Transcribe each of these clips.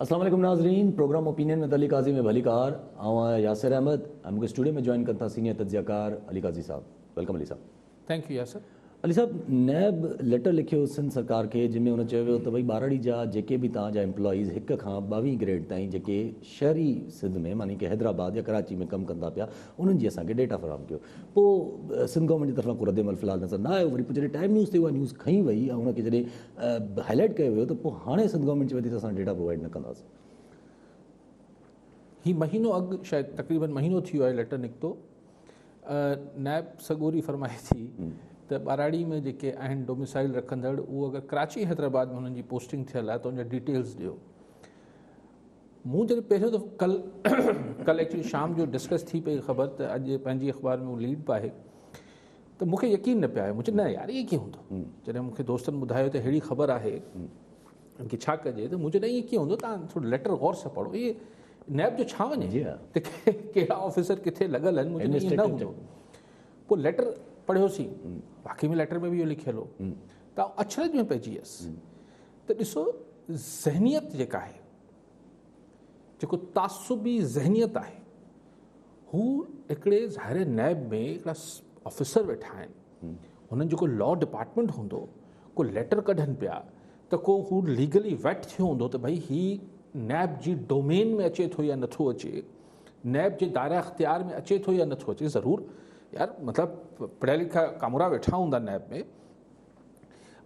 السلام عليڪم ناظرين پروگرام اوپينين ۾ علي قاضي ۾ به علي ڪار آئون آهيان ياسر احمد ۽ مون کي اسٽوڊيو ۾ جوائن ڪن ٿا سينيئر تجزيه ڪار علي قاضي صاحب ويلڪم علي صاحب. Thank you Yasir. علي صاحب نيب ليٽر لکيو سنڌ سرڪار کي جنهن ۾ ان چيو ويو ته ڀئي ٻاراڙي جا جيڪي به توهان جا امپلائيز هڪ کان ٻاوهين گريڊ تائين جيڪي شهري سنڌ ۾ معني ڪي حيدرآباد يا ڪراچي ۾ ڪم ڪندا پيا انهن جي اسان کي ڊيٽا فراهم ڪيو پوء سنڌ گورنمينٽ جي طرفان ڪو رد عمل في الحال نظر نه آيو وري پوء جڏهن ٽائيم نيوز تي اها نيوز کنئي وئي ۽ ان کي جڏهن هاء لائيٽ ڪيو ويو ته پوء هاڻي سنڌ گورنمينٽ چئي پئي ته اسان ڊيٽا پرووائيڊ نه ڪنداسين. هي مهينو اڳ شايد تقريبن مهينو ٿي ويو آهي ليٽر نڪتو نائب سڳوري فرمائي ٿي ته ٻهراڙي ۾ جيڪي آهن ڊوميسائل رکندڙ اهو اگر ڪراچي حيدرآباد ۾ انهن جي پوسٽنگ ٿيل آهي ته ان جا ڊيٽيلز ڏيو مون جڏهن پهريون دفعو ڪل ڪل ايڪچولي شام جو ڊسڪس ٿي پئي خبر ته اڄ پنهنجي اخبار ۾ ليڊ به آهي ته مون کي يقين نه پئي آيو، مون چيو نه يار ائين ڪيئن هوندو، جڏهن مون کي دوستن ٻڌايو ته اهڙي خبر آهي ان کي ڇا ڪجي ته مون چيو نه ائين ڪيئن هوندو، توهان ٿورو ليٽر غور سان پڙهو، اهي نيب جو ڇا وڃي ته ڪهڙا آفيسر ڪٿي لڳل آهن، مون چيو نه هوندو، پوء ليٽر پڙهيوسين، واقعي ۾ ليٽر ۾ به اهو لکيل هو ته آئون اچرج ۾ پئجي ويس ته ڏسو ذهنيت جيڪا آهي. جيڪو تعصبي ذهنيت آهي هو هڪڙي ظاهر نيب ۾ هڪڙا آفيسر ويٺا آهن هنن جيڪو لا ڊپارٽمنٽ هوندو ڪو ليٽر ڪڍن پيا ته ڪو هو ليگلي ويٽ ٿيو هوندو ته ڀئي هي نيب جي ڊومين ۾ اچي ٿو يا نٿو اچي نيب جي دائره اختيار ۾ اچي ٿو يا نٿو اچي ضرور يار مطلب پڙهيا لکا ڪامورا ويٺا هوندا نيب ۾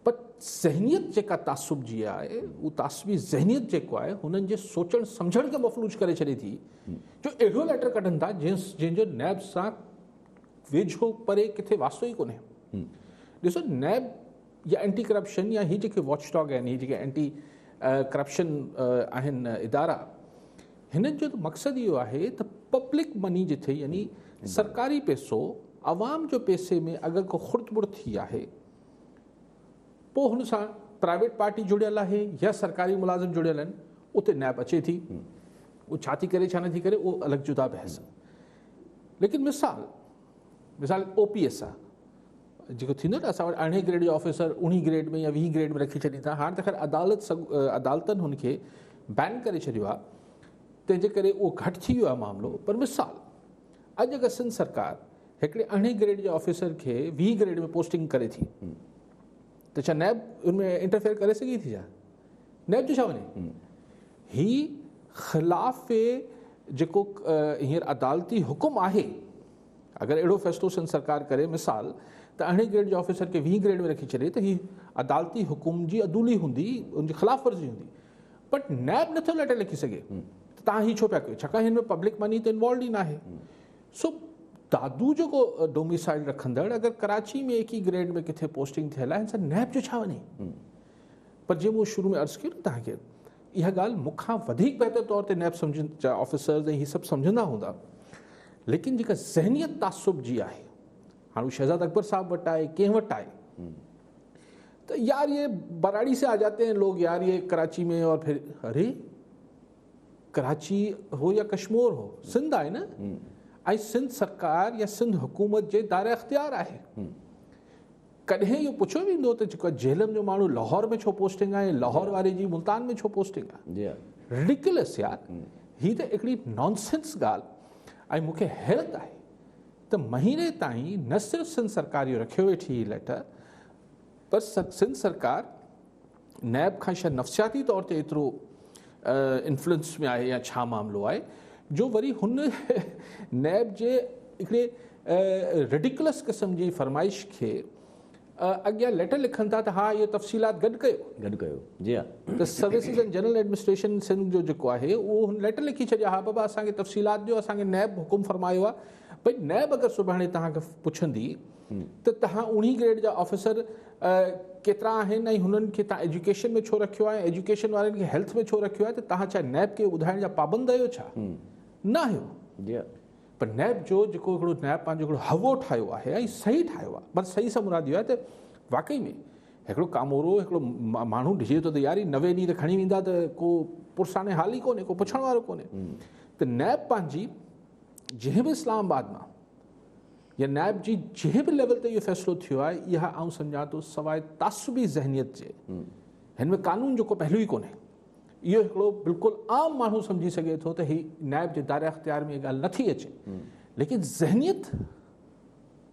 پر ذهنيت جيڪا تعصب جي آهي هو تعصبي ذهنيت جيڪو آهي هنن جي سوچڻ سمجهڻ کي مفلوج ڪري ڇڏي ٿي جو اهڙو ليٽر ڪڍن ٿا جن جن جو نيب سان ويجهو پري کي واسطو ئي ڪونهي ڏسو نيب يا اينٽي ڪرپشن يا هي جيڪي واچ ڊاگ آهن هي جيڪي اينٽي ڪرپشن آهن ادارا هنن جو ته مقصد اهو آهي ته پبلڪ مني جٿي يعني سرڪاري پيسو عوام جو پيسي ۾ اگر ڪو خرد برد ٿي آهي پوء هن سان پرائيويٽ پارٽي جڙيل آهي يا سرڪاري ملازم جڙيل آهن اتي نيب اچي ٿي اهو ڇا ٿي ڪري ڇا نه ٿي ڪري اهو الڳ جدا بحث ليڪن مثال مثال او پي ايس آ جيڪو ٿيندو آهي نه اسان وٽ ارڙهين گريڊ جو آفيسر اوڻي گريڊ ۾ يا ويهين گريڊ ۾ رکي ڇڏين ٿا هاڻ ته خير عدالت عدالتن هن کي بين ڪري ڇڏيو آهي تنهن جي ڪري اهو گهٽ ٿي ويو آهي معاملو پر مثال اڄ اگر سنڌ سرڪار هڪڙي ارڙهين گريڊ جي آفيسر کي ويهين گريڊ ۾ پوسٽنگ ڪري ٿي ته ڇا نيب ان ۾ انٽرفيئر ڪري سگهي ٿي ڇا نيب جو ڇا وڃي هي خلاف جيڪو هينئر عدالتي حڪم آهي اگر اهڙو فيصلو سنڌ سرڪار ڪري مثال ته اهڙي گريڊ جي آفيسر کي ويهين گريڊ ۾ رکي ڇڏي ته هي عدالتي حڪم جي عدولي هوندي ان جي خلاف ورزي هوندي بٽ نيب نه ٿو ليٽر لکي سگهي ته تان هي ڇو پيا ڪيو ڇاڪاڻ هن ۾ پبلڪ مني ته انوالوڊ ئي ناهي سو دادو جيڪو ڊوميسائل رکندڙ اگر ڪراچي ۾ ايڪي گريڊ ۾ ڪٿي پوسٽنگ ٿيل آهي هن سان نيب جو ڇا وڃي پر جي مون شروع ۾ عرض ڪيو نه تهان کي اها ڳالهه مون کان وڌيڪ بهتر طور تي نيب سمجهن جا آفيسرز ۽ هي سڀ سمجهندا هوندا ليڪن جيڪا ذهنيت تعصب جي آهي هاڻ هو شهزاد اڪبر صاحب وٽ آهي ڪنهن وٽ آهي ته يار یہ براڙي سے آ جاتے ہیں لوگ یار یہ کراچي ۾ اور پھر اري کراچي هو يا ڪشمور هو سنڌ آهي نه ۽ سنڌ سرڪار يا سنڌ حڪومت جي دائره اختيار آهي ڪڏهن اهو پڇيو ويندو ته جيڪو جهلم جو ماڻهو لاهور ۾ ڇو پوسٽنگ آهي ۽ لاهور واري جي ملتان ۾ ڇو پوسٽنگ آهي رڊيڪلس يار هي ته هڪڙي نانسنس ڳالهه ۽ مون کي حيرت آهي ته مهيني تائين نه صرف سنڌ سرڪار اهو رکيو ويٺي هي ليٽر پر سنڌ سرڪار نيب کان شايد نفسياتي طور تي ايترو انفلوئنس ۾ آهي يا ڇا معاملو آهي جو وري هن نيب جي هڪڙي ريڊيڪلس قسم جي فرمائش کي اڳيان ليٽر لکن ٿا ته ها اهي تفصيلات گڏ ڪيو گڏ ڪيو جي ها ته services and general administration Sindh جو جيڪو آهي اهو هن ليٽر لکي ڇڏيا ها بابا اسان کي تفصيلات ڏيو اسان کي نيب حڪم فرمايو آهي ڀئي نيب اگر سڀاڻي توهان کي پڇندي ته تهان اڻهي گريڊ جا آفيسر ڪيترا آهن ۽ هنن کي تهان ايجوڪيشن ۾ ڇو رکيو آهي ۽ ايجوڪيشن وارن کي هيلٿ ۾ ڇو رکيو آهي ته تهان ڇا نيب کي ٻڌائڻ جا پابند آهيو ڇا نه آهيو جي پر نيب جو جيڪو هڪڙو نيب پنهنجو هڪڙو هوو ٺاهيو آهي ۽ صحيح ٺاهيو آهي پر صحيح سان مراد اهو آهي ته واقعي ۾ هڪڙو ڪامورو هڪڙو ماڻهو ڏجي ٿو ته يار هي نوي ڏينهن ته کڻي ويندا ته ڪو پرساني حال ئي ڪونهي ڪو پڇڻ وارو ڪونهي ته نيب پنهنجي جنهن به اسلام آباد مان يا نائب جي جنهن به ليول تي اهو فيصلو ٿيو آهي اها آئون سمجهان ٿو سواء تعصبي ذهنيت جي هن ۾ قانون جو ڪو پهلو ئي ڪونهي اهو هڪڙو بلڪل عام ماڻهو سمجهي سگهي ٿو ته هي نائب جي دائره اختيار ۾ ڳالهه نه ٿي اچي ليڪن ذهنيت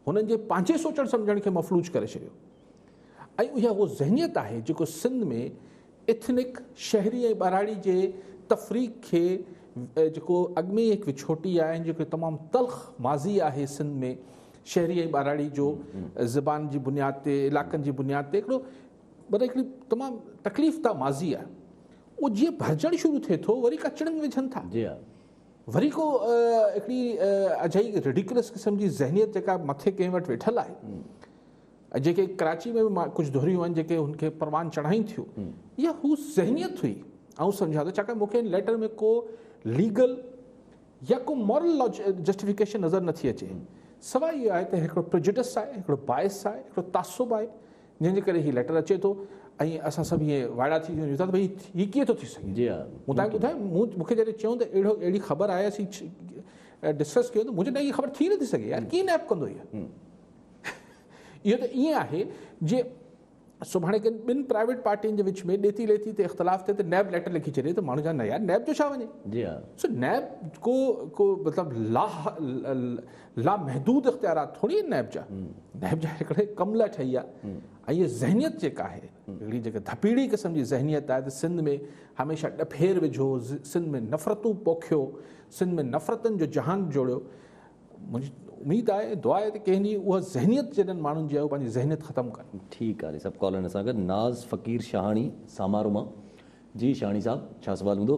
هنن جي پنهنجي سوچڻ سمجهڻ کي مفلوج ڪري ڇڏيو ۽ اها هو ذهنيت آهي جيڪو سنڌ ۾ ايٿنڪ، شهري ۽ ٻهراڙي جي تفريق کي جيڪو اڳ ۾ ئي هڪ وڇوٽي آهي ۽ جيڪو تمام تلخ ماضي آهي سنڌ ۾ شهري ۽ ٻهراڙي جو زبان جي بنياد تي علاقن جي بنياد تي هڪڙو مطلب هڪڙي تمام تڪليف ده ماضي آهي اهو جيئن ڀرجڻ شروع ٿئي ٿو وري ڪچڙن ۾ وجهن ٿا جي ها وري ڪو هڪڙي اجهي ريڊيڪلس قسم جي ذهنيت جيڪا مٿي ڪنهن وٽ ويٺل آهي جيڪي ڪراچي ۾ به ڪجهه ڌريون آهن جيڪي هن کي پروان چڙهائين ٿيون اها هو ذهنيت هئي آئون سمجهان ٿو ڇاڪاڻ مونکي ان ليٽر ۾ ڪو ليگل يا ڪو مورل جسٽيفڪيشن نظر نٿي اچي سواء اهو آهي ته هڪڙو پرجڊس آهي هڪڙو باعث آهي هڪڙو تعصب آهي جنهن جي ڪري هي ليٽر اچي ٿو ۽ اسان سڀ ائين وائڙا ٿي ويون ته ڀائی هي ڪيئن ٿو ٿي سگهي جي مون تاکي ٻڌايو مون مون کي جڏهن چيو ته اهڙو اهڙي خبر آهي اسين ڊسڪس ڪيو ته مون چيو نه هي خبر ٿي نٿي سگهي يار ڪيئن نيپ ڪندو هي اهو ته ائين آهي جي سڀاڻي ڪن ٻن پرائيويٽ پارٽين جي وچ ۾ ڏيتي ليتي تي اختلاف ٿئي ته نيب ليٽر لکي ڇڏي ته ماڻهو چون نه يار نيب جو ڇا وڃي جي ها سو نيب ڪو ڪو مطلب لا لا محدود اختيارات ٿوري آهن نيب جا نيب جا هڪڙي ڪم لاء ٺهي آهي ۽ هي ذهنيت جيڪا آهي هڪڙي جيڪا ڌپيڙي قسم جي ذهنيت آهي ته سنڌ ۾ هميشه ڏڦير وجهو سنڌ ۾ نفرتون پوکيو سنڌ ۾ نفرتن جو جهان جوڙيو منهنجي اميد آهي ۽ دعا آهي ته ڪنهن ڏينهن اها ذهنيت جڏن ماڻهن جي آهي اهي پنهنجي ذهنيت ختم ڪن. ٺيڪ آهي صاحب ڪالر اسان گڏ ناز فقير شاهاڻي سامارو مان جي شاهاڻي صاحب ڇا سوال هوندو.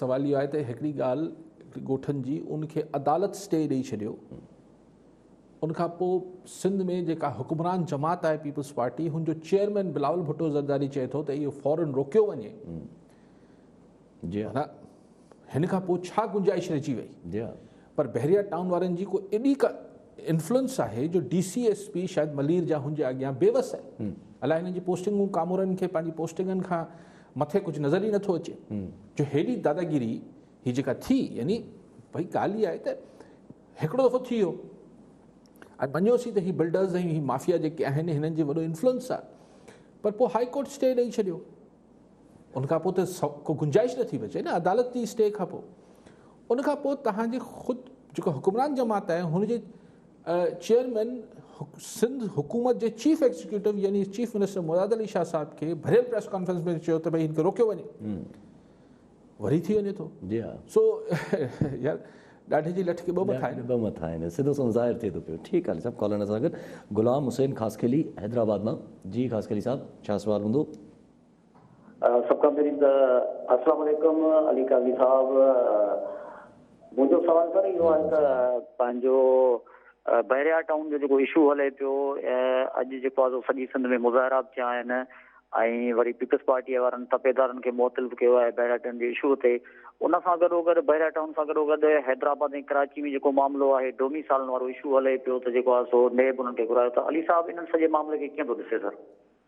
سوال اهو آهي ته هڪڙي ڳالهه ڳوٺن جي ان کي عدالت اسٽي ڏئي ڇڏيو ان کان پوء سنڌ ۾ جيڪا حڪمران جماعت آهي پيپلز پارٽي هن جو چيئرمين بلاول ڀٽو زرداري چئي ٿو ته اهو فورن روڪيو وڃي جي ها هن کان پوء ڇا گنجائش رهجي وئي جي ها پر بحريا ٽائون وارن جي کو ايڏي ڪا انفلوئنس آهي جو ڊي سي ايس پي شايد ملير جا هن جي اڳيان بيوس آهي الاء هن جي پوسٽنگون ڪامورن کي پنهنجي پوسٽنگن کان مٿي ڪجهه نظر ئي نٿو اچي جو هيڏي داداگيري هي جيڪا ٿي يعني ڀئي ڳالهه هي آهي ته هڪڙو دفعو ٿي ويو ۽ مڃيوسين ته هي بلڊرز ۽ هي مافيا جيڪي آهن هنن جي وڏو انفلوئنس آهي پر پوء هاء ڪورٽ اسٽي ڏئي ڇڏيو ان کان پوء ته ڪو گنجائش نٿي بچي نه عدالت جي اسٽي کان پوء ان کان پوء تهان جي خود جيڪو حڪمران جماعت آهي هن جي چيئرمين سنڌ حڪومت جي چيف ايگزيڪيوٽو يعني چيف منسٽر مراد علي شاهه صاحب کي ڀريل پريس ڪانفرنس ۾ چيو ته ڀئي هن کي روڪيو وڃي وري ٿي وڃي ٿو جي ها سو يار ڏاڍي جي لٺ کي ٻه مٿا آهن ٻه مٿا آهن سڌو سون ظاهر ٿئي ٿو پيو ٺيڪ آهي صاحب ڪالر سان گڏ غلام حسين خاصخيلي حيدرآباد مان جي خاصخيلي صاحب ڇا سوال هوندو سڀ کان پهرين ته السلام عليڪم علي قاضي صاحب منهنجو سوال سر اهو آهي ته پنهنجو بحريا ٽائون جو جيڪو اشو هلي پيو اڄ جيڪو آهي سڄي سنڌ ۾ مظاهرا به ٿيا آهن ۽ وري پيپلز پارٽي وارن تپيدارن کي معطل به ڪيو آهي بحريا ٽائون جي اشو تي ان سان گڏو گڏ بحريا ٽائون سان گڏو گڏ حيدرآباد ۽ ڪراچي ۾ جيڪو معاملو آهي ڊومي سالن وارو اشو هلي پيو ته جيڪو آهي سو نيب انهن کي گهرايو ته علي صاحب انهن سڄي معاملي کي ڪيئن ٿو ڏسي sir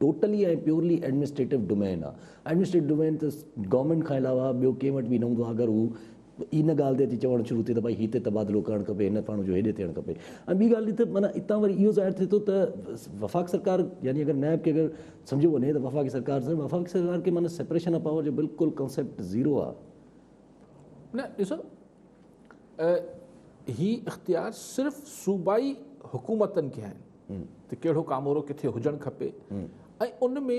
totally ۽ purely administrative domain آ ايڊمنسٽريٽو ڊومين ته گورنمينٽ کان علاوه ٻيو ڪنهن وٽ به نه هوندو آ اگر هو ان ڳالهه تي اچي چوڻ شروع ٿئي ته ڀائي هي هتي تبادلو ڪرڻ کپي هن ماڻهو جو هيڏي ٿيڻ کپي ۽ ٻي ڳالهه ته معنيٰ اتان وري اهو ظاهر ٿئي ٿو ته وفاق سرڪار يعني اگر نائب کي اگر سمجهيو وڃي ته وفاقي سرڪار سان وفاقي سرڪار کي معنيٰ سيپريشن آف پاور جو بلڪل ڪانسيپٽ زيرو آ نه ڏسو هي اختيار صرف صوبائي حڪومتن کي آهن ته ڪهڙو ڪامورو ڪٿي هجڻ کپي ۽ ان ۾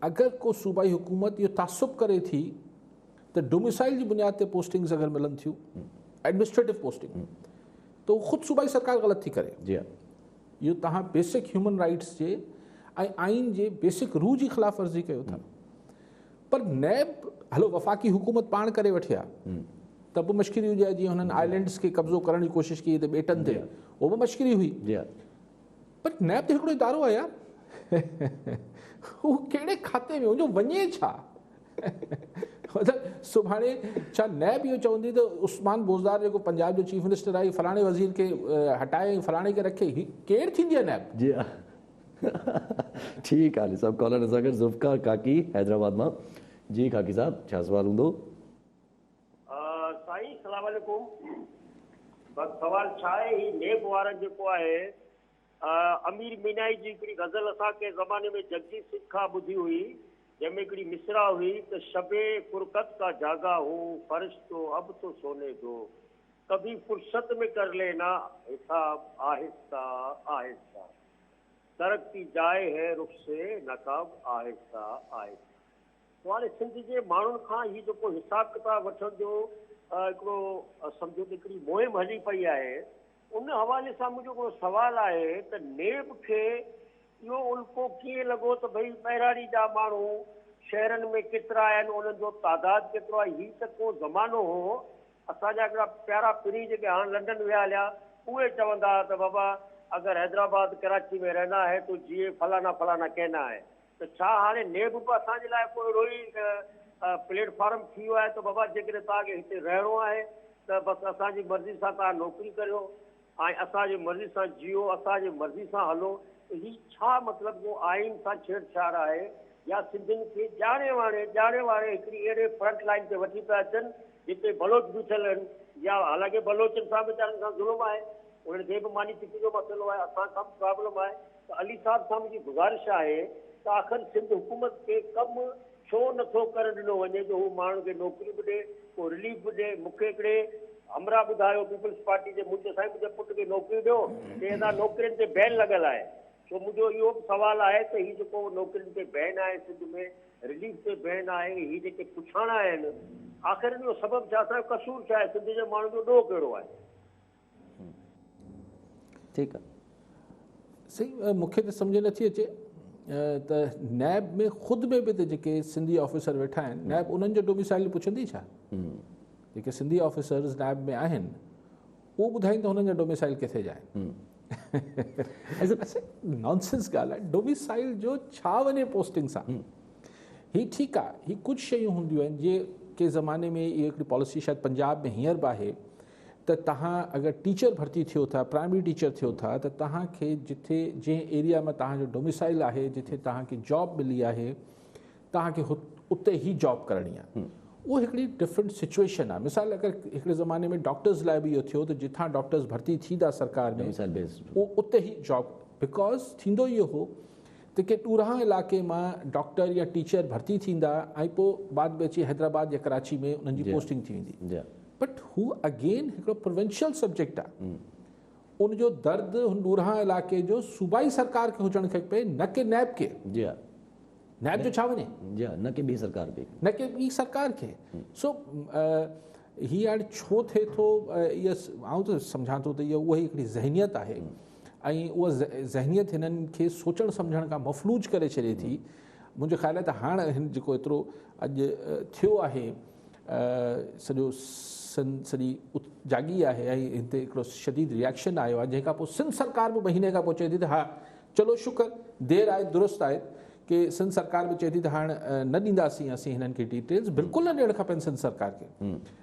اگر ڪو صوبائي حڪومت اهو تعصب ڪري ٿي ته ڊوميسائل جي بنياد تي پوسٽنگز اگر ملن ٿيون ايڊمنسٽريٽو پوسٽنگ ته اهو خود صوبائي سرڪار غلط ٿي ڪري جي هاں اهو توهان بيسڪ هيومن رائيٽس جي ۽ آئين جي بيسڪ روح جي خلاف ورزي ڪيو ٿا پر نيب هلو وفاقي حڪومت پاڻ ڪري وٺي ها ته به مشڪري هجي ها جيئن هنن آئلينڊس کي قبضو ڪرڻ جي ڪوشش ڪئي ته ٻيٽن تي اهو به مشڪري هئي پر نيب ته هڪڙو ادارو آهي يار هو ڪهڙي کاتي ۾ هجو وڃي ڇا سڀاڻي ڇا نئي به اهو چوندي ته عثمان بوزدار جيڪو پنجاب جو چيف منسٽر آهي فلاڻي وزير کي هٽائي فلاڻي کي رکي هي ڪير ٿيندي آهي نئب جي ٺيڪ آ علي صاحب ڪالر سان گڏ ذوالفقار ڪاڪي حيدرآباد مان جي ڪاڪي صاحب ڇا سوال هوندو. سائين سلام عليڪم بس سوال ڇا آهي هي نيب وارن جيڪو آهي امير مينائي جي هڪڙي غزل اسان ڪنهن زماني ۾ جگجيت سنگهه کان ٻڌي هئي جنهن ۾ هڪڙي مصرع هئي ته شبي فرقت ڪا جاگا هو فرش تو اب تو سوني دو ڪڀي فرصت ۾ ڪر لينا حساب آهسته آهسته درڪتي جائي هي رخ سي نقاب آهسته آهسته سوال سنڌ جي ماڻهن کان هي جيڪو حساب ڪتاب وٺڻ جو هڪڙو سمجهو ته هڪڙي مهم هلي پئي آهي ان حوالي سان منهنجو هڪڙو سوال آهي ته نيب کي اهو الڪو ڪيئن لڳو ته ڀئي ٻهراڙي جا ماڻهو شهرن ۾ ڪيترا آهن انهن جو تعداد ڪيترو آهي هي ته ڪو زمانو هو اسان جا هڪڙا پيارا پرين جيڪي هاڻ لنڊن ويا هليا اهي چوندا ها ته بابا اگر حيدرآباد ڪراچي ۾ رهنا هي تو جيئي فلانا فلانا ڪهنا هي ته ڇا هاڻي نيب به اسان جي لاء ڪو اهڙو ئي پليٽ فارم ٿي ويو آهي ته بابا جيڪڏهن توهان کي هتي رهڻو آهي ته بس اسان جي مرضي سان توهان نوڪري ڪريو آئين اسان جي مرضي سان جيئو، اسان جي مرضي سان هلو، ته هي ڇا مطلب ڪو آئين سان ڇيڙ ڇاڙ آهي يا سنڌين کي ڄاڻي واڻي ڄاڻي واري هڪڙي اهڙي فرنٽ لائين تي وٺي پيا اچن جتي بلوچ بيٺل آهن يا حالانڪه بلوچن سان ويچارن سان ظلم آهي انهن کي به ماني ٽڪيٽ جو مسئلو آهي اسان کان به پرابلم آهي. ته علي صاحب سان منهنجي گذارش آهي ته آخر سنڌ حڪومت کي ڪم ڇو نه ٿو ڪرڻ ڏنو وڃي جو هو ماڻهن کي نوڪري به ڏي، ڪو رليف به ڏي، مون کي هڪڙي همراهه ٻڌايو پيپلز پارٽي جي مون چيو سائين منهنجي پٽ کي نوڪري ڏيو، چي ادا نوڪرين تي بين لڳل آهي، سو منهنجو اهو به سوال آهي ته هي جيڪو نوڪرين تي بين آهي سنڌ ۾ رليف تي بين آهي هي جيڪي پڇاڻا آهن آخر ان جو سبب ڇا اسان جو قصور ڇا آهي سنڌ جي ماڻهن جو ڏوهه ڪهڙو آهي. هو. ٺيڪ آ سائين مون کي ته سمجهه نٿي اچي ته نيب ۾ خود ۾ به ته جيڪي سنڌي آفيسر ويٺا آهن نيب انهن جو ڊوميسائل پڇندي ڇا جيڪي سنڌي آفيسرز نيب ۾ آهن اهو ٻڌائين ته هنن جا ڊوميسائل ڪٿي جا آهن نانسنس ڳالهه آهي ڊوميسائل جو ڇا وڃي پوسٽنگ سان هي ٺيڪ آهي هي ڪجهه شيون هونديون آهن جي ڪي زماني ۾ اهي هڪڙي پاليسي شايد پنجاب ۾ هينئر به آهي ته توهان اگر ٽيچر ڀرتي ٿيو ٿا پرائمري ٽيچر ٿيو ٿا ته توهان کي جتي جنهن ايريا ۾ توهان جو ڊوميسائل آهي جتي توهان کي جاب ملي آهي توهان کي اتي ئي جاب ڪرڻي آهي اهو هڪڙي ڊفرنٽ سچويشن آهي مثال اگر هڪڙي زماني ۾ ڊاڪٽرز لاء به اهو ٿيو ته جتان ڊاڪٽرز ڀرتي ٿيندا سرڪار ۾ اتي ئي جاب بڪاز ٿيندو اهو هو ته ڪي ڏورانهن علائقي مان ڊاڪٽر يا ٽيچر ڀرتي ٿيندا ۽ پوء بعد ۾ اچي حيدرآباد يا ڪراچي ۾ انهن جي پوسٽنگ ٿي ويندي بٽ هو اگين هڪڙو پروونشل سبجيڪٽ آ ان جو درد هن ڏورانهن علائقي جو صوبائي سرڪار کي هجڻ کي پئي نه ڪي نيب کي نيب جو ڇا وڃي نه ڪي ٻي سرڪار کي نه ڪي ٻي سرڪار کي سو هي هاڻي ڇو ٿئي ٿو آئون ته سمجهان ٿو ته اهي اهي هڪڙي ذهنيت آهي ۽ اها ذهنيت هنن کي سوچڻ سمجهڻ کان مفلوج ڪري ڇڏي ٿي منهنجو خيال آهي ته هاڻ هن جيڪو ايترو اڄ ٿيو آهي سڄو سن سڄي جاڳي آهي ۽ هتي هڪڙو شديد ريئڪشن آيو آهي جنهن کان پوء سنڌ سرڪار به مهيني کان پوء چئي ٿي ته ها چلو شڪر دير آهي درست آهي ڪي سنڌ سرڪار به چئي ٿي ته هاڻ نه ڏينداسين اسين هنن کي ڊيٽيلز بلڪل نه ڏيڻ کپين سنڌ سرڪار کي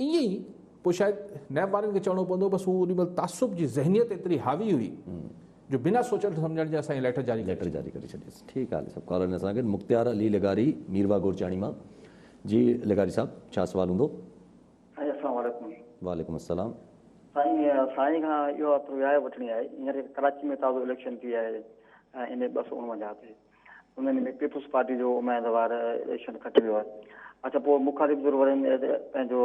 ائين ئي پوء شايد نيب وارن کي چوڻو پوندو بس هو اڏي مهل تعصب جي ذهنيت ايتري حاوي هئي جو بنا سوچڻ سمجهڻ جي اسان هي ليٽر جاري ڪري ڇڏيس. ٺيڪ آ علي صاحب ڪالر ۾ اسان سان گڏ مختيار علي لغاري ميرواھ گورچياڻي مان جي لغاري صاحب ڇا سوال هوندو. سائين اسلام عليڪم. وعليڪم السلام. سائين سائين کان اهو رآء وٺڻي آهي هينئر ڪراچي ۾ تازو اليڪشن ٿي آهي ايم اي ٻه سؤ اڻونجاهه تي انهن ۾ پيپلز پارٽي جو اميدوار اليڪشن کٽي ويو آهي اچا پوء مخالف ڌر وارن پنهنجو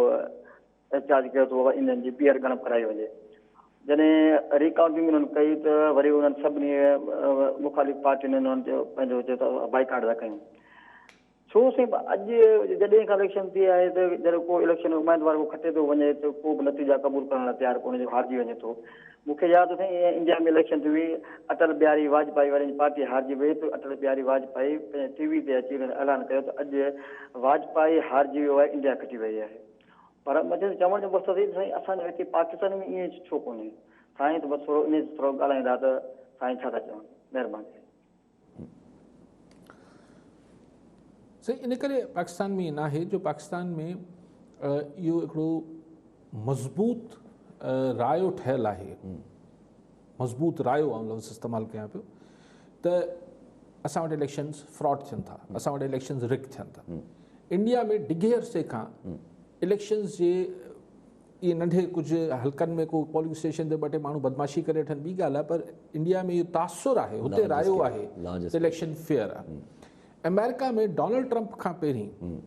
احتجاج ڪيو ته انهن جي ٻيهر ڳڻپ ڪرائي وڃي جڏهن ريڪاؤنٽنگ انهن ڪئي ته وري انهن سڀني مخالف پارٽين انهن جو پنهنجو بائيڪاٽ ٿا ڪيون ڇو سائين اڄ جڏهن کان اليڪشن ٿئي آهي ته جڏهن ڪو اليڪشن ۾ اميدوار ڪو کٽي ٿو وڃي ته ڪو به نتيجا قبول ڪرڻ لاء تيار ڪونهي جو هارجي وڃي ٿو مون کي ياد اٿئي ائين انڊيا ۾ اليڪشن ٿي هئي اٽل بهاري واجپائي وارن جي پارٽي هارجي وئي ته اٽل بهاري واجپائي پنهنجي ٽي وي تي اچي انهن اعلان ڪيو ته اڄ واجپائي هارجي ويو آهي انڊيا کٽي وئي آهي پر مجن چوڻ جو مقصد هي ته سائين اسان جو هتي پاڪستان ۾ ائين ڇو ڪونهي سائين ته بس ٿورو انهي تي ٿورو ڳالهائيندا ته سائين ڇا ٿا چون مهرباني سائين ان ڪري پاڪستان ۾ ناهي جو پاڪستان ۾ اهو هڪڙو مضبوط رايو ٺهيل آهي مضبوط رايو آؤ لفظ استعمال ڪيان پيو ته اسان وٽ اليڪشنز فراڊ ٿين ٿا اسان وٽ اليڪشنز رڪ ٿين ٿا انڊيا ۾ ڊگهي عرصي کان اليڪشنز جي اهي ننڍي ڪجهه حلقن ۾ ڪو پولنگ اسٽيشن تي ٻه ٽي ماڻهو بدمعاشي ڪري وٺن ٻي ڳالهه آهي پر انڊيا ۾ اهو تاثر آهي هتي رايو آهي ته اليڪشن فيئر آهي آمريڪا ۾ ڊونلڊ ٽرمپ کان پهرين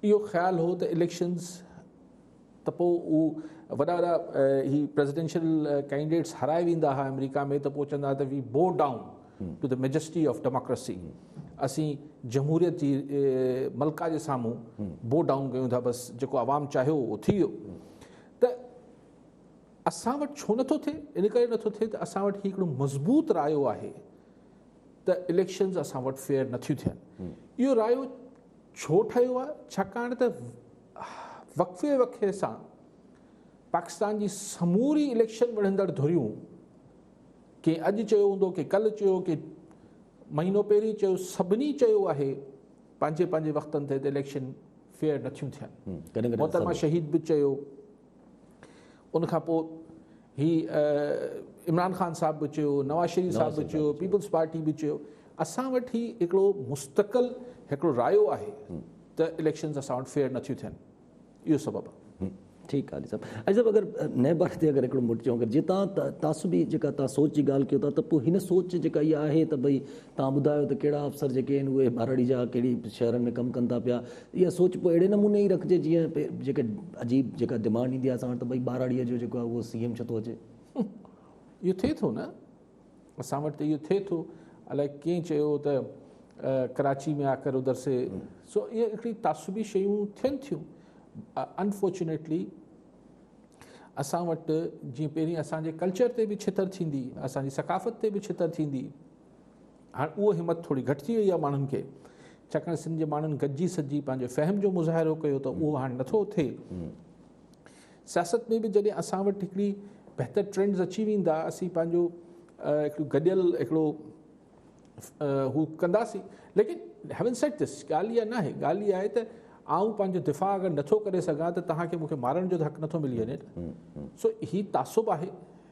اهو خيال هو ته اليڪشنز ته پوء هو وڏا وڏا هي پريزيڊنشل ڪينڊيڊيٽس هرائي ويندا هئا آمريڪا ۾ ته پوء چوندا ته we bow down to the majesty of democracy اسين جمهوريت جي ملڪه جي سامهون بو ڊائون ڪيون ٿا بس جيڪو عوام چاهيو اهو ٿي ويو ته اسان وٽ ڇو نٿو ٿئي ان ڪري نٿو ٿئي ته اسان وٽ هي هڪڙو مضبوط رايو آهي ته اليڪشنز اسان وٽ فيئر نٿيون ٿين اهو رايو ڇو ٺهيو آهي ڇاڪاڻ ته وقفي وقفي سان پاڪستان جي سموري اليڪشن وڙهندڙ ڌريون ڪنهن اڄ چيو هوندو ڪنهن ڪل چيو ڪنهن مهينو پهرين چيو سڀني چيو آهي پنهنجي پنهنجي وقتن تي ته اليڪشن فيئر نٿيون ٿين محترمه شهيد به چيو ان کان پوء هي عمران خان صاحب به چيو نواز شريف صاحب به چيو پيپلز پارٽي به چيو اسان وٽ هي هڪڙو مستقل هڪڙو رايو آهي ته اليڪشنز اسان وٽ فيئر نٿيون ٿين اهو سبب آ. ٺيڪ آ علي صاحب. علي صاحب اگر نئين بار تي اگر هڪڙو موٽي چئون اگر جي تان تعصبي جيڪا تان سوچ جي ڳالهه ڪيو ٿا ته پوء هن سوچ جيڪا اها آهي ته ڀئي تان ٻڌايو ته ڪهڙا افسر جيڪي آهن اهي ٻهراڙي جا ڪهڙي شهرن ۾ ڪم ڪن ٿا پيا اها سوچ پوء اهڙي نموني ئي رکجي جيئن پي جيڪي عجيب جيڪا ڊمانڊ ايندي آهي اسان وٽ ته ڀئي ٻهراڙي جو جيڪو آهي اهو سي ايم ڇو ٿو اچي. اهو ٿئي ٿو نه. اسان وٽ ته اهو ٿئي ٿو الائي ڪنهن چيو ته ڪراچي ۾ آڪر ادھر سي سو اهي هڪڙي تعصبي شيون ٿين ٿيون انفارچونيٽلي اسان وٽ جيئن پهرين اسان جي ڪلچر تي به ڇتر ٿيندي اسان جي ثقافت تي به ڇتر ٿيندي هاڻ اهو همت ٿوري گهٽجي وئي آهي ماڻهن کي ڇاڪاڻ سنڌ جي ماڻهن گڏجي سڏجي پنهنجو فهم جو مظاهرو ڪيو ته اهو هاڻ نٿو ٿئي سياست ۾ به جڏهن اسان وٽ هڪڙي بهتر ٽرينڊز اچي ويندا اسين پنهنجو هڪڙو گڏيل هڪڙو هو ڪنداسين ليڪن هيون سيٽ دس ڳالهه اها ناهي ڳالهه اها آهي ته آئون پنهنجو دفاع اگر نٿو ڪري سگهان ته توهان کي مون کي مارڻ جو حق نٿو ملي وڃي سو هي تعصب آهي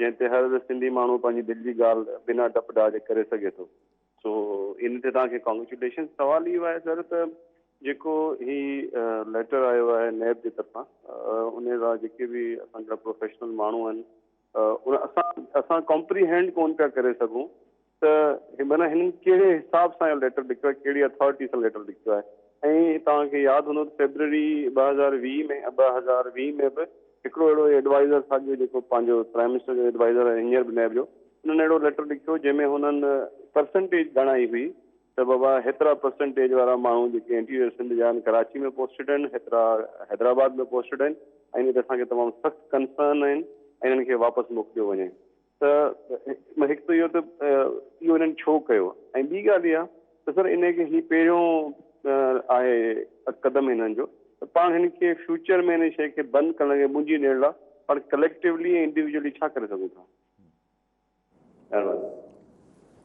جنهن تي هر سنڌي ماڻهو پنهنجي دل جي ڳالهه بنا ڊپ ڊاج ڪري سگهي ٿو. سو ان تي توهان کي ڪانگريچوليشنس. سوال اهو آهي سر ته جيڪو هي ليٽر آيو آهي نيب جي طرفان ان لاء جيڪي به اسان جا پروفيشنل ماڻهو آهن ان اسان اسان ڪمپريهينڊ ڪون پيا ڪري سگهون ته معنيٰ هنن ڪهڙي حساب سان اهو ليٽر لکيو آهي، ڪهڙي اٿارٽي سان ليٽر لکيو آهي ۽ توهان کي ياد هوندو ته فيبروري ٻه هزار ويهه ۾ ٻه هزار ويهه ۾ به هڪڙو اهڙو ايڊوائزر ساڳيو جيڪو پنهنجو پرائم منسٽر جو ايڊوائزر آهي هينئر به نيب جو انهن اهڙو ليٽر لکيو جنهن ۾ هنن پرسنٽيج ڳڻائي هئي ته بابا هيترا پرسنٽيج وارا ماڻهو جيڪي انٽيريئر سنڌ جا آهن ڪراچي ۾ پوسٽيڊ آهن هيترا حيدرآباد ۾ پوسٽيڊ آهن ۽ ان تي اسان کي تمام سخت ڪنسرن آهن ۽ انهن کي واپس موڪليو وڃي ته هڪ ته اهو ته اهو انهن ڇو ڪيو ۽ ٻي ڳالهه اها ته سر انهن کي هي پهريون آهي قدم انهن جو ته پاڻ هن کي فيوچر ۾ ان شيء کي بند ڪرڻ لاء منهنجي ڏيڻ لاء پاڻ ڪليڪٽوولي ۽ انڊيويجولي ڇا ڪري سگهون ٿا؟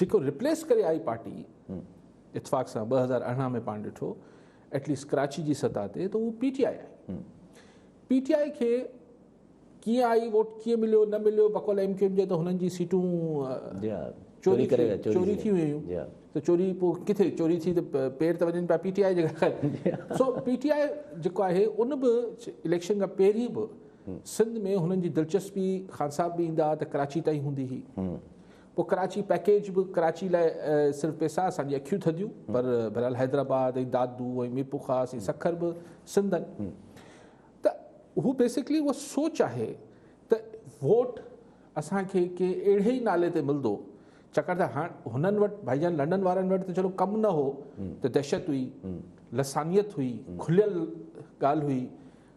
جيڪو ريپليس ڪري آئي پارٽي اتفاق سان ٻه هزار ارڙهن ۾ پاڻ ڏٺو ايٽ ليسٽ ڪراچي جي سطح تي ته اهو P T I I P T I کي ڪيئن آئي ووٽ ڪيئن مليو نه مليو بقول ايم ڪيو ايم جي ته هنن جي سيٽون جي ها چوري ڪري چوري ٿي ويون هيون ته چوري پوء ڪٿي چوري ٿي ته پير ته وڃن پيا پي ٽي آئي جي ڪري سو پي ٽي آئي جيڪو آهي ان به اليڪشن کان پهرين به سنڌ ۾ هنن جي دلچسپي خان صاحب به ايندا ته ڪراچي تائين هوندي هئي پوء ڪراچي پيڪيج به ڪراچي لاء صرف پيسا اسان جي اکيون ٿڌيون پر بھرحال حيدرآباد ۽ دادو ۽ ميرپورخاص ۽ سکر به سندن ته هو بيسڪلي اها سوچ آهي ته ووٽ اسان کي ڪنهن اهڙي ئي نالي تي ملندو ڇاڪاڻ ته هاڻ هنن وٽ ڀائي جان لنڊن وارن وٽ ته چلو ڪم نه هو ته دهشت هئي لسانيت هئي کليل ڳالهه هئي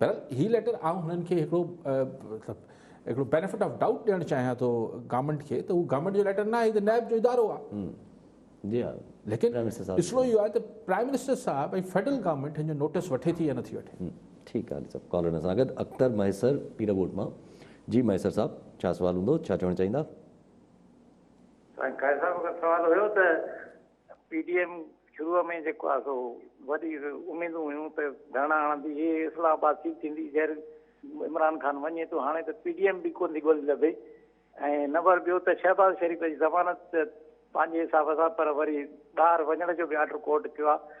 بهرحال هي ليٽر آئون هنن کي هڪڙو مطلب هڪڙو بينيفٽ آف ڊائوٽ ڏيڻ چاهيان ٿو گورنمنٽ کي ته هو گورنمنٽ جو ليٽر ناهي ته نائب جو ادارو آهي جي ها ليڪن مسئلو اهو آهي ته پرائم منسٽر صاحب ۽ فيڊرل گورنمنٽ هن جو نوٽس وٺي ٿي يا نٿي وٺي ٺيڪ آهي صاحب ڪالر اسان گڏ اختر مهيسر پيرڳوٺ مان جي مهيسر صاحب ڇا سوال هوندو ڇا چوڻ چاهيندا سائين قائد صاحب اگر سوال هيو ته پي ڊي ايم شروع ۾ جيڪو آهي سو وڏي اميدون هيون ته ڌرڻا هڻندي هي اسلام آباد سيٽ ٿيندي جهر عمران خان وڃي ٿو هاڻي ته پي ڊي ايم به ڪون ٿي ڳولي لڀي ۽ نمبر ٻيو ته شهباز شريف جي ضمانت پنهنجي حساب سان پر وري ٻاهر وڃڻ جو به آرڊر ڪورٽ ڪيو آهي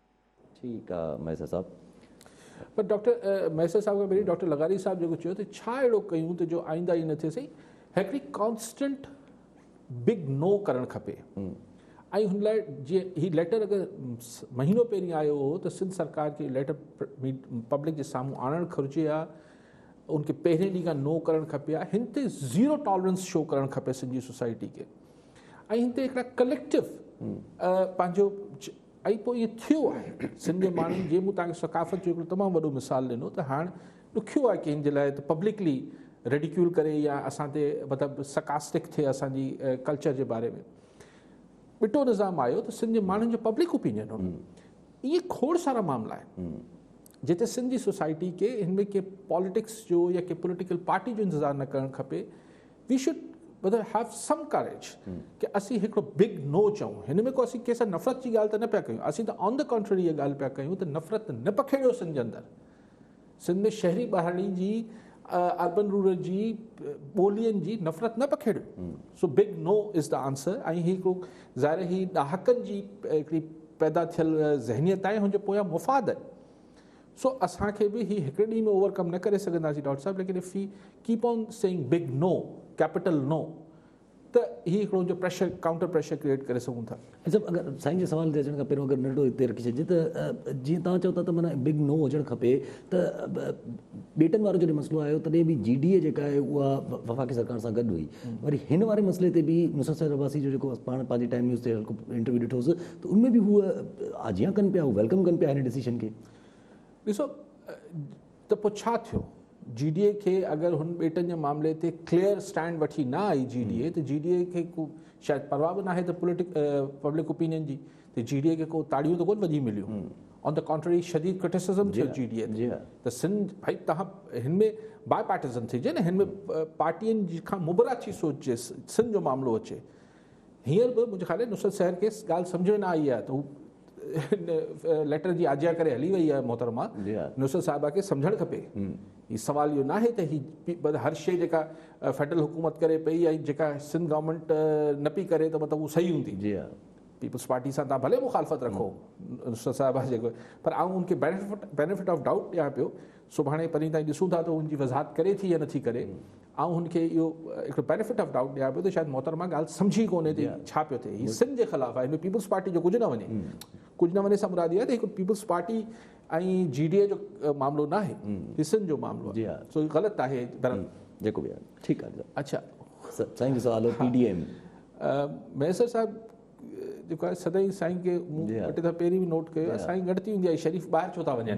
ٺيڪ آ مهيسر صاحب. پر ڊاڪٽر مهيسر صاحب کان پهرين ڊاڪٽر لغاري صاحب جيڪو چيو ته ڇا اهڙو ڪيون ته جو آئنده ائين نه ٿئي سائين هڪڙي ڪانسٽنٽ بگ نو ڪرڻ کپي ۽ هن لاء جي هي ليٽر اگر مهينو پهرين آيو هو ته سنڌ سرڪار کي ليٽر پبلڪ جي سامهون آڻڻ گهرجي ها ان کي پهرين ڏينهن کان نو ڪرڻ کپي ها هن تي زيرو ٽالرنس شو ڪرڻ کپي سنڌ جي سوسائٽي کي ۽ هن تي هڪڙا ڪليڪٽو پنهنجو ۽ پوء ائين ٿيو آهي سنڌ جي ماڻهن جي مون توهان کي ثقافت جو هڪڙو تمام وڏو مثال ڏنو ته هاڻ ڏکيو آهي ڪنهن جي لاء ته پبلڪلي ريڊيڪيول ڪري يا اسان تي مطلب سڪاسٽڪ ٿئي اسان جي ڪلچر جي باري ۾ ٻٽو نظام آيو ته سنڌ جي ماڻهن جو پبلڪ اوپينين هو ائين کوڙ سارا معاملا آهن جتي سنڌ جي سوسائٽي کي هن ۾ ڪنهن پاليٽڪس جو يا ڪنهن پوليٽيڪل پارٽي جو انتظار نه ڪرڻ کپي we should better have some courage ڪي اسين هڪڙو بگ نو چئون هن ۾ ڪو اسين ڪنهن سان نفرت جي ڳالهه ته نه پيا ڪيون اسين ته آن دي ڪانٽرري اها ڳالهه پيا ڪيون ته نفرت نه پکيڙيو سنڌ جي اندر سنڌ ۾ شهري ٻهراڙي جي اربن رورل جي ٻولين جي نفرت نه پکيڙيو so big no is the answer ۽ هي هڪڙو ظاهر هي ڏهاڪن جي هڪڙي پيدا ٿيل ذهنيت آهي هن جو پويان مفاد آهي سو اسان کي به هي هڪڙي ڏينهن ۾ اوور ڪم نه ڪري سگهنداسين ڊاڪٽر صاحب ليڪن if we keep on saying big no capital no ته هي هڪڙو جو پريشر ڪائونٽر پريشر ڪريئيٽ ڪري سگهون ٿا. اچا اگر سائين جي سوال تي اچڻ کان پهريون اگر ننڍڙو هتي رکي ڇڏجي ته جيئن توهان چئو ٿا ته معنيٰ بگ نو هجڻ کپي ته ٻيٽن وارو جڏهن مسئلو آيو تڏهن به جي ڊي اي جيڪا آهي اها وفاقي سرڪار سان گڏ هئي وري هن واري مسئلي تي به نصرت سيد عباسي جو جيڪو پاڻ پنهنجي ٽائيم نيوز تي انٽرويو ڏٺوس ته ان ۾ به هو آجيان ڪن پيا، هو ويلڪم ڪن پيا هن ڊسيشن کي. ڏسو ته پوء ڇا ٿيو؟ جي ڊي اي کي اگر هن ٻيٽن جي معاملي تي ڪليئر اسٽينڊ وٺي نه آئي جي ڊي اي ته جي ڊي اي کي ڪو شايد پرواهه به ناهي ته پوليٽڪ پبلڪ اوپينين جي ته جي ڊي اي کي ڪو تاڙيون ته ڪونه وڄي مليون آن ته ڪانٽرري شديد ڪرٽيسزم ٿيو جي ڊي اي تي ته سنڌ ڀائي تهان هن ۾ باء پارٽيزن ٿي جي نه هن ۾ پارٽين کان مبرا ٿي سوچجي سنڌ جو معاملو اچي هينئر به منهنجي خيال آهي نصرت سحر کي ڳالهه سمجهه ۾ نه آئي آهي ته هو ليٽر جي آجيان ڪري هلي وئي آهي محترمه جي ها. نصرت صاحبه کي سمجهڻ کپي هي سوال اهو ناهي ته هي هر شيء جيڪا فيڊرل حڪومت ڪري پئي ۽ جيڪا سنڌ گورنمينٽ نه پئي ڪري ته مطلب هو صحيح هوندي جي ها. پيپلز پارٽي سان تان ڀلي مخالفت رکو نصرت صاحبه جيڪو پر آئون ان کي بينيفٽ بينيفٽ آف ڊائوٽ ڏيان پيو سڀاڻي پرين تائين ڏسون ٿا ته ان جي وضاحت ڪري ٿي يا نٿي ڪري آئون هن کي اهو هڪڙو بينيفٽ آف ڊائوٽ ڏيان پيو ته شايد محترمه ڳالهه سمجهي ڪونهي ته ڇا پيو ٿئي هي سنڌ جي خلاف آهي هن ۾ پيپلز پارٽي جو ڪجهه نه وڃي ڪجهه نه وڃي سان مراد اها آهي ته هي Peoples Party ۽ G D A جو معاملو نه آهي هي سنڌ جو معاملو آهي سو هي غلط آهي در جيڪو به آهي ٺيڪ آهي اڇا سائين جو سوال هو پي ڊي ايم ميسر صاحب جيڪو آهي سدائين سائين کي مون وٽ ته پهرين به نوٽ ڪيو سائين ڳڻتي هوندي آهي شريف ٻاهر ڇو ٿا وڃن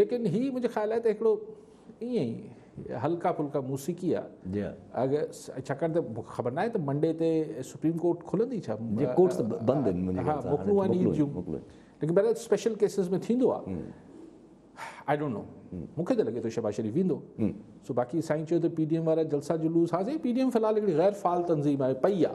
ليڪن هي منهنجي خيال آهي ته هڪڙو ائين ئي هلڪا ڦلڪا موسيقي آ جي اگر ڇاڪاڻ ته مونکي خبر ناهي ته منڊي تي سپريم ڪورٽ کلندي ڇا جي ڪورٽ ته بند آهن منهنجي خيال سان موڪلون آهن عيد جون ليڪن بهرحال اسپيشل ڪيسز ۾ ٿيندو آ آئي ڊونٽ نو مونکي ته لڳي ٿو شهباز شريف ويندو سو باقي سائين چيو ته پي ڊي ايم وارا جلسا جلوس ها سائين پي ڊي ايم في الحال هڪڙي غير فعال تنظيم آهي پئي آ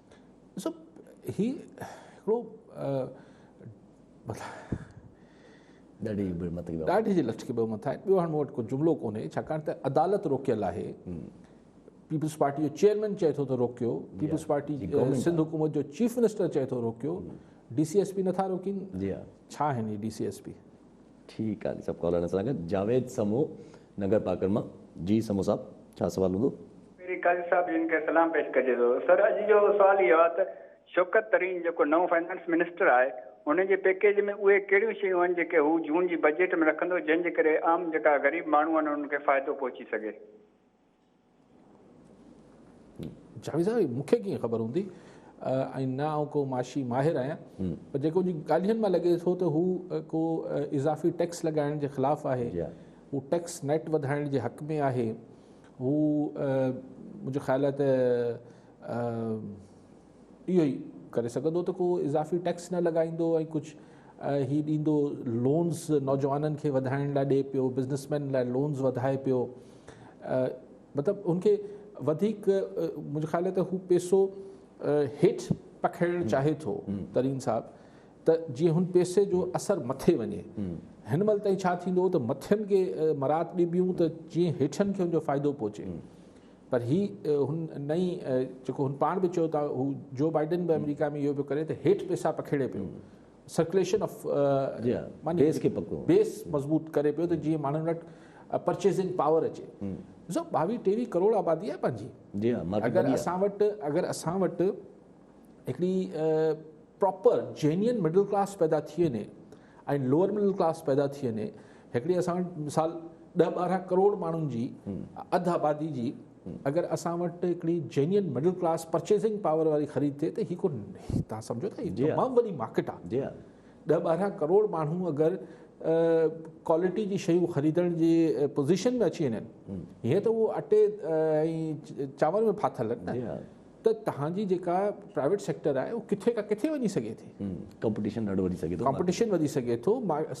ڏسو هي هڪڙو ڏاڍي بي متي ڏاڍي جي لٽڪي به مٿا ٻيو هاڻ مون وٽ ڪو جملو ڪونهي ڇاڪاڻ ته عدالت روڪيل آهي پيپلز پارٽي جو چيئرمين چئي ٿو ته روڪيو پيپلز پارٽي سنڌ حڪومت جو چيف منسٽر چئي ٿو روڪيو ڊي سي ايس پي نٿا روڪين ڇا آهن ڊي سي ايس پي ٺيڪ آ جي صاحب ڪالر اسان سان گڏ جاويد سمو نگر پاڪڙ مان جي سمو صاحب ڇا سوال هوندو. پهرين قاضي صاحب جن کي سلام پيش ڪجي ٿو سر اڄ جو سوال اهو آ ته شوڪت ترين جيڪو نئون فنانس منسٽر آهي ان جي پيڪيج ۾ اهي ڪهڙيون شيون آهن جيڪي هو جون جي بجيٽ ۾ رکندو جنهن جي ڪري عام جيڪا غريب ماڻهون آهن انهن کي فائدو پهچي سگهي. جاويد صاحب مون کي ڪيئن خبر هوندي ۽ نه آئون ڪو معاشي ماهر آهيان پر جيڪو جي ڳالهين مان لڳي ٿو ته هو ڪو اضافي ٽيڪس لڳائڻ جي خلاف آهي جي هو ٽيڪس نيٽ وڌائڻ جي حق ۾ آهي هو منهنجو خيال آهي ته اهو ئي ڪري سگهندو ته ڪو اضافي ٽيڪس نه لڳائيندو ۽ ڪجهه هي ڏيندو لونز نوجوانن کي وڌائڻ لاء ڏي پيو بزنس مين لاء لونز وڌائي پيو مطلب ان کي وڌيڪ منهنجو خيال آهي ته هو پيسو هيٺ پکيڙڻ چاهي ٿو ترين صاحب ته جيئن هن پيسي جو اثر مٿي وڃي هن مهل تائين ڇا ٿيندو ته مٿين کي مراعات ڏبيون ته جيئن هيٺن کي ان جو فائدو پهچي پر هي هن نئين جيڪو هن پاڻ به چيو ته هو جو بائيڊن به آمريڪا ۾ اهو پيو ڪري ته هيٺ پيسا پکيڙي پيو سرڪليشن آف بيس کي پڪو بيس مضبوط ڪري پيو ته جيئن ماڻهن وٽ پرچيزنگ پاور اچي ڏسو ٻاويهه ٽيويهه ڪروڙ آبادي آهي پنهنجي جي ها اگر اسان وٽ اگر اسان وٽ هڪڙي پراپر جينين مڊل ڪلاس پيدا ٿي وڃي ۽ لوئر مڊل ڪلاس پيدا ٿي وڃي هڪڙي اسان وٽ مثال ڏهه ٻارهن ڪروڙ ماڻهن جي اڌ آبادي جي اگر اسان وٽ هڪڙي genuine middle class purchasing power واري خريد ٿئي ته هي ڪو تان سمجھو ٿا جي تمام وڏي مارڪيٽ آهي ڏهه ٻارهن ڪروڙ ماڻهو اگر ڪوالٽي جي شيون خريدڻ جي پوزيشن ۾ اچي وڃن هيئن ته اهو اٽي ۽ چانور ۾ ڦاٿل آهن ته توهان جي جيڪا پرائيويٽ سيڪٽر آهي اهو ڪٿي کان ڪٿي وڃي سگهي ٿي ڪمپٽيشن ڏاڍو وڌي سگهي ٿو ڪمپٽيشن وڌي سگهي ٿو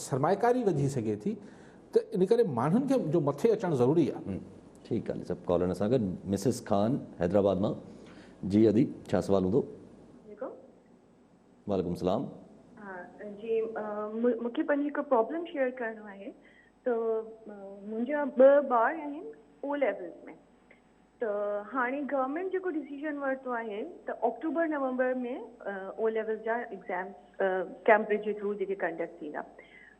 سرمائيڪاري وڌي سگهي ٿي ته ان ڪري ماڻهن کي جو مٿي اچڻ ضروري آهي ٺيڪ آهي سڀ ڪالر اسان گڏ مسز خان حيدرآباد مان جي ادي ڇا سوال هوندو وعليڪم السلام جي مونکي پنهنجي هڪ پرابلم شيئر ڪرڻو آهي ته منهنجا ٻه ٻار آهن او ليولز ۾ ته هاڻي گورنمينٽ جيڪو ڊسيزن ورتو آهي ته آڪٽوبر نومبر ۾ او ليول جا ايگزامز ڪيمبرج جي ٿرو جيڪي ڪنڊڪٽ ٿيندا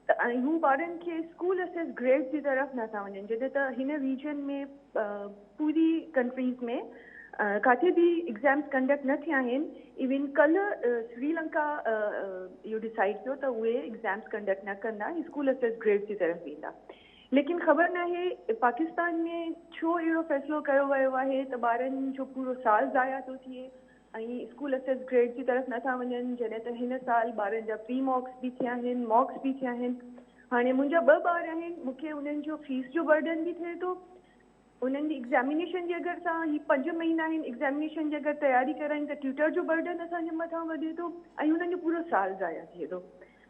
ته ۽ هو ٻارن کي اسڪول اسيس گريڊ جي طرف نه ٿا وڃن جڏهن ته هن ريجن ۾ پوري ڪنٽريز ۾ ڪاٿي به ايگزامز ڪنڊڪٽ نه ٿيا آهن ايون ڪل سريلنڪا اهو ڊسائيڊ ڪيو ته اهي ايگزامز ڪنڊڪٽ نه ڪندا اسڪول اسيس گريڊ جي طرف ويندا ليڪن خبر ناهي پاڪستان ۾ ڇو اهڙو فيصلو ڪيو ويو آهي ته ٻارن جو پورو سال ضايع ٿو ٿئي ۽ اسڪول اسيس گريڊ جي طرف نٿا وڃن جڏهن ته هن سال ٻارن جا پري ماڪس به ٿيا آهن ماڪس به ٿيا آهن هاڻي منهنجا ٻه ٻار آهن مون کي انهن جو فيس جو برڊن به ٿئي ٿو انهن جي ايگزامينيشن جي اگر سان هي پنج مهينا آهن ايگزامينيشن جي اگر تياري ڪرايون ته ٽيوٽر جو برڊن اسان جي مٿان وڌي ٿو ۽ انهن جو پورو سال ضايع ٿئي ٿو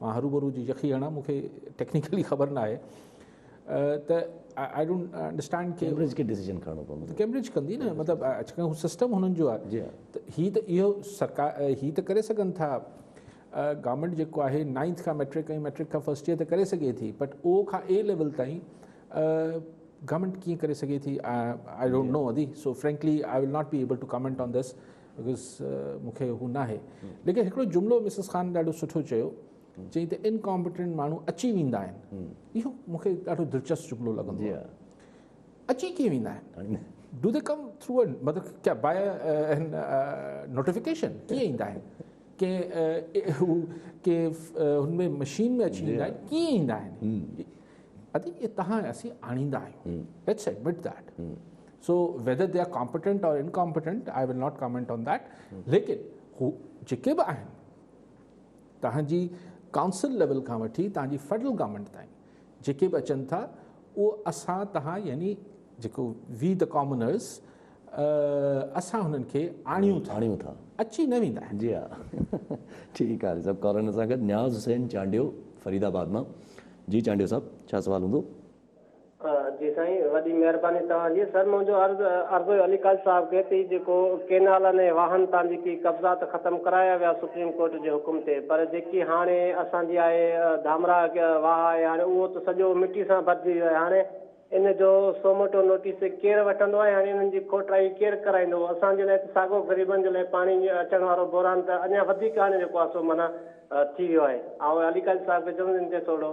مان هروڀرو جي يخي هڻان مون کي ٽيڪنيڪلي خبر نه آهي ته آئي ڊونٽ انڊرسٽينڊ ڪي ڪيمبرج کي ڊيسيجن کڻڻو پوندو ڪيمبرج ڪندي نه مطلب اڄڪلهه هو سسٽم هنن جو آهي ته هي ته اهو سرڪار هي ته ڪري سگهن ٿا گورنمنٽ جيڪو آهي نائنٿ کان ميٽرڪ ۽ ميٽرڪ کان فرسٽ ايئر ته ڪري سگهي ٿي بٽ او کان اي ليول تائين گورنمنٽ ڪيئن ڪري سگهي ٿي آئي ڊونٽ نو ادي so frankly I will not be able to comment on this because مون کي هو ناهي ليڪن هڪڙو جملو مسز خان ڏاڍو سٺو چيو چئي ته انڪامپيٽنٽ ماڻهو اچي ويندا آهن اهو مون کي ڏاڍو دلچسپ جملو لڳندو جي اچي ڪيئن ويندا آهن ڊو دي ڪم ٿرو مطلب ڪيا باي نوٽيفڪيشن ڪيئن ايندا آهن ڪي هو ڪي هن ۾ مشين ۾ اچي ويندا آهن ڪيئن ايندا آهن ادي تهان اسين آڻيندا آهيون ليٽس admit that so whether they are competent or incompetent I will not comment on that ليڪن هو جيڪي به آهن توهان جي ڪائونسل ليول کان وٺي توهان جي فيڊرل گورنمينٽ تائين جيڪي به اچن ٿا اهو اسان توهان يعنی جيڪو وي د ڪامنرس اسان هنن کي آڻيون ٿا آڻيون ٿا اچي نه ويندا آهن جي ها ٺيڪ آهي سڀ ڪارن سان گڏ نياز حسين چانڊيو فريد آباد مان جي چانڊيو صاحب ڇا سوال هوندو جي سائين وڏي مهرباني توهان جي. سر منهنجو عرض عرض هيو علي قاضي صاحب کي تي جيڪو ڪينالن ۽ واهن تان جيڪي قبضا ته ختم ڪرايا ويا سپريم ڪورٽ جي حڪم تي پر جيڪي هاڻي اسان جي آهي ڌامراء واهه آهي هاڻي اهو ته سڄو مٽي سان ڀرجي ويو آهي هاڻي ان جو سوموٽو نوٽيس ڪير وٺندو ۽ هاڻي انهن جي کوٽرائي ڪير ڪرائيندو اسان جي لاء ته ساڳو غريبن جي لاء پاڻي اچڻ وارو بحران ته اڃا وڌيڪ هاڻي جيڪو آهي سو معنيٰ ٿي ويو آهي آئون علي قاضي صاحب کي چوندس ان تي ٿورڙو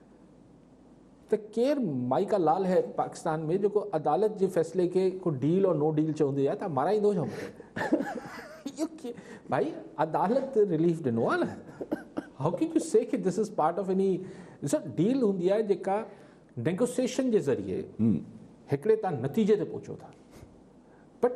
ته ڪير مائيڪا لال هي پاڪستان ۾ جيڪو عدالت جي فيصلي کي ڪو ڊيل اور نو ڊيل چوندي آهي ته مارائيندو ڇا مونکي ڀائي عدالت ريليف ڏنو آهي نه هاء ڪين يو سي ڪي دس از پارٽ آف اني ڏسو ڊيل هوندي آهي جيڪا نيگوسيشن جي ذريعي هڪڙي تان نتيجي تي پهچو ٿا بٽ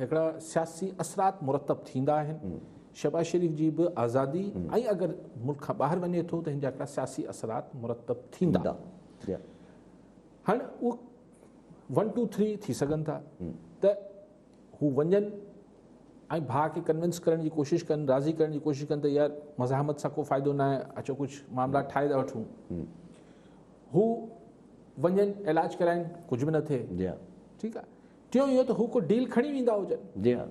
هڪڙا سياسي اثرات مرتب ٿيندا آهن، شهباز شريف جي به آزادي ۽ اگر ملڪ کان ٻاهر وڃي ٿو ته هن جا هڪڙا سياسي اثرات مرتب ٿيندا. هاڻي اهو ون ٽو ٿري ٿي سگهن ٿا ته هو وڃن ۽ ڀاء کي ڪنوينس ڪرڻ جي ڪوشش ڪن، راضي ڪرڻ جي ڪوشش ڪن ته يار مزاحمت سان ڪو فائدو نه آهي، اچو ڪجهه معاملا ٺاهي ٿا وٺون. هو وڃن علاج ڪرائين، ڪجهه به نه ٿئي. ٺيڪ آهي. ٽيون اهو ته هو ڪو ڊيل کڻي ويندا هجن. جي ها.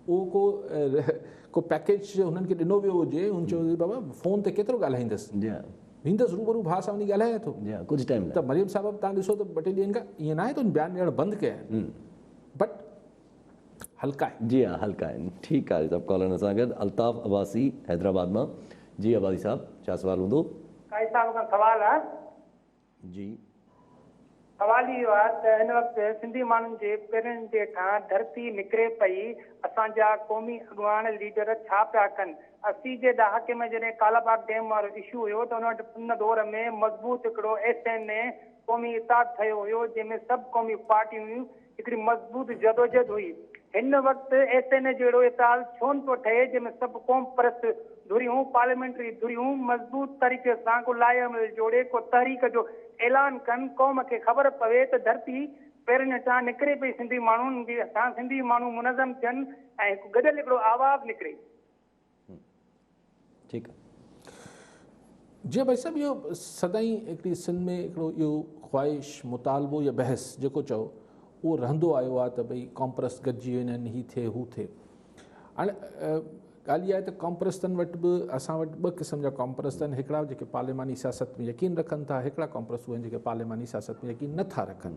اهو ڪو ڪو پيڪيج هنن کي ڏنو ويو هجي هن چيو هجي بابا فون تي ڪيترو ڳالهائيندس. جي ها. ويندس روبرو ڀاء سان وڃي ڳالهايان ٿو. جي ها ڪجهه ٽائيم لاء. ته مريم صاحب توهان ڏسو ته ٻه ٽي ڏينهن کان ائين ناهي ته بيان ڏيڻ بند ڪيا آهن بٽ هلڪا آهن. جي ها هلڪا آهن ٺيڪ آهي سڀ ڪالرن سان گڏ الطاف عباسي حيدرآباد مان جي عباسي صاحب ڇا سوال هوندو. قائد صاحب کان سوال ها. جي. سوال اهو آهي ته هن وقت سنڌي ماڻهن جي پيرن جي هيٺان ڌرتي نڪري پئي، اسان جا قومي اڳواڻ، ليڊر ڇا پيا ڪن؟ اسي جي ڏهاڪي ۾ جڏهن ڪالاباغ ڊيم وارو اشو هيو ته ان دور ۾ مضبوط هڪڙو ايس اين اي قومي اتحاد ٺهيو هيو جنهن ۾ سڀ قومي پارٽيون هيون هڪڙي مضبوط جدوجهد هئي. هن وقت ايس اين اي جهڙو ايتال ڇو نه ٿو ٺهي جنهن ۾ سڀ قوم پرست ڌريون، پارليامينٽري ڌريون مضبوط طريقي سان ڪو لائحه عمل جوڙي ڪو تحريڪ جو اعلان ڪن، قوم کي خبر پوي ته ڌرتي پيرن هيٺان نڪري پئي سنڌي ماڻهن هيٺان سنڌي ماڻهو منظم ٿين ۽ هڪ گڏيل هڪڙو آواز نڪري. ٺيڪ آ جي بھي صاحب اھو سدائين ھڪڙي سنڌ ۾ ھڪڙو اھو خواھش مطالبو يا بحث جيڪو چئو اھو رھندو آيو آ ته بھي ڪامپرس گڏجي وڃن ھي ٿئي ھو ٿئي ھاڻي ڳالھه اھا آھي ته ڪامپرستن وٽ به اسان وٽ ٻه قسم جا ڪامپرست آھن ھڪڙا جيڪي پارليماني سياست ۾ يقين رکن ٿا ھڪڙا ڪامپرست اھي جيڪي پارليماني سياست ۾ يقين نٿا رکن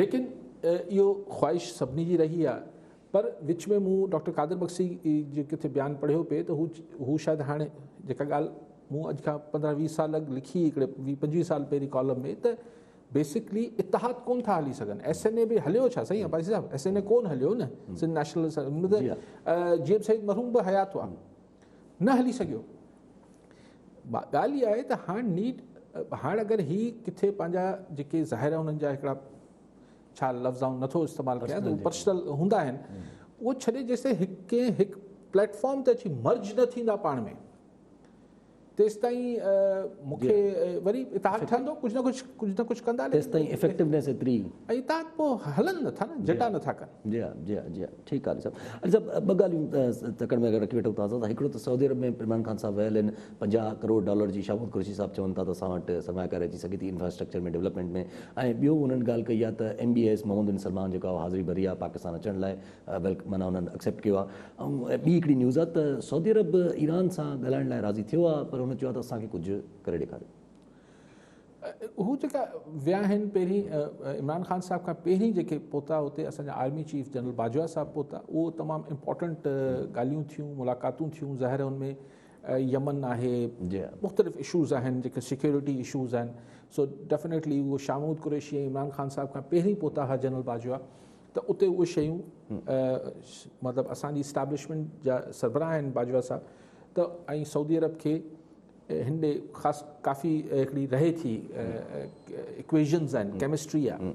ليڪن اھو خواھش سڀني جي رھي آ پر وچ ۾ مون ڊاڪٽر قادر بخشي جو ڪٿي بيان پڙهيو پئي ته هو شايد هاڻي جيڪا ڳالهه مون اڄ کان پندرهن ويهه سال اڳ لکي هڪڙي ويهه پنجويهه سال پهرين ڪالم ۾ ته بيسڪلي اتحاد ڪون ٿا هلي سگهن ايس اين اي به هليو ڇا سائين Abbasi Sahib S N A ڪون هليو نه Sindh national G M Syed مرحوم به حيات هئا نه هلي سگهيو ڳالهه اها آهي ته هاڻ نيڊ هاڻ اگر هي ڪٿي پنهنجا جيڪي ظاهر هنن جا هڪڙا ڇا لفظ آئون نه ٿو استعمال ڪيان ته اهي پرسنل هوندا آهن اهو ڇڏي جيستائين هڪ ڪنهن هڪ پليٽ فارم تي اچي مرج نه ٿيندا پاڻ ۾ تيستائين مون کي وري اتحاد ٺهندو ڪجهه نه ڪجهه ڪجهه نه ڪجهه ڪندا تيستائين افيڪٽونيس ايتري ۽ اتحاد پوء هلن نٿا نه جٽا نٿا ڪن جي ها جي ها جي ها ٺيڪ آهي علي صاحب علي صاحب ٻه ڳالهيون تڪڙ ۾ اگر رکي ويٺو تازا هڪڙو ته سعودي عرب ۾ عمران خان صاحب ويل آهن پنجاهه ڪروڙ ڊالر جي شاهه محمد قريشي صاحب چون ٿا ته اسان وٽ سرماياڪاري اچي سگهي ٿي انفراسٽرڪچر ۾ ڊولپمينٽ ۾ ۽ ٻيو انهن ڳالهه ڪئي آهي ته M B A S Mohammed bin Salman جيڪو آهي اهو حاضري ڀري آهي پاڪستان اچڻ لاء ويلڪ معنيٰ انهن اڪسيپٽ ڪيو آهي ۽ ٻي هڪڙي نيوز آهي ته سعودي عرب ايران سان ڳالهائڻ لاء راضي ٿيو آهي پر هن چيو آهي ته اسان کي ڪجهه ڪري ڏيکاريو. هو جيڪا ويا آهن پهرين عمران خان صاحب کان پهرين جيڪي پهتا اتي اسان جا army chief general Bajwa Sahib پهتا اهو تمام امپورٽنٽ ڳالهيون ٿيون ملاقاتون ٿيون ظاهر آهي ان ۾ يمن آهي جي مختلف اشوز آهن جيڪي سيڪيورٽي اشوز آهن سو ڊيفنيٽلي اهو شاهه محمود قريشي ۽ عمران خان صاحب کان پهرين پهتا هئا جنرل باجوا ته اتي اهي شيون مطلب اسان جي اسٽيبلشمنٽ جا سربراهه آهن باجوا صاحب ته ۽ سعودي عرب کي هن ڏي خاص ڪافي هڪڙي رهي ٿي اڪويشنز آهن ڪيمسٽري آهي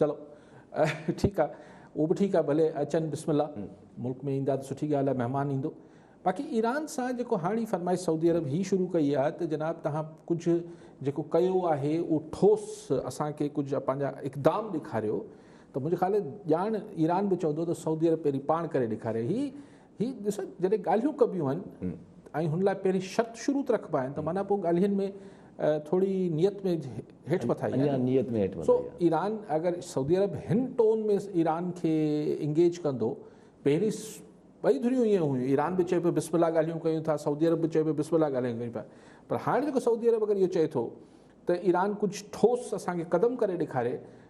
چلو ٺيڪ آ اهو به ٺيڪ آ ڀلي اچن بسم الله ملڪ ۾ ايندا ته سٺي ڳالهه آ مهمان ايندو باقي ايران سان جيڪو هاڻي فرمائش سعودي عرب هي شروع ڪئي آ ته جناب توهان ڪجهه جيڪو ڪيو آهي اهو ٺوس اسان کي ڪجهه پنهنجا اقدام ڏيکاريو ته منهنجي خيال ڄاڻ ايران به چوندو ته سعودي عرب پهرين پاڻ ڪري ڏيکاري هي هي ڏس جڏهن ڳالهيون ڪبيون آهن ۽ هن لاء پهرين شرط شروط رکبا آهن ته معنيٰ پوء ڳالهين ۾ ٿوري نيت ۾ هيٺ مٿائي آهي اڃا نيت ۾ هيٺ مٿائي سو ايران اگر سعودي عرب هن ٽون ۾ ايران کي انگيج ڪندو پهرين ٻئي ڌريون ائين هيون ايران به چئي پيو بسم الله ڳالهيون ڪيون ٿا سعودي عرب به چئي پيو بسم الله ڳالهيون ڪيون پيا پر هاڻي جيڪو سعودي عرب اگر اهو چئي ٿو ته ايران ڪجهه ٺوس اسان کي قدم ڪري ڏيکاري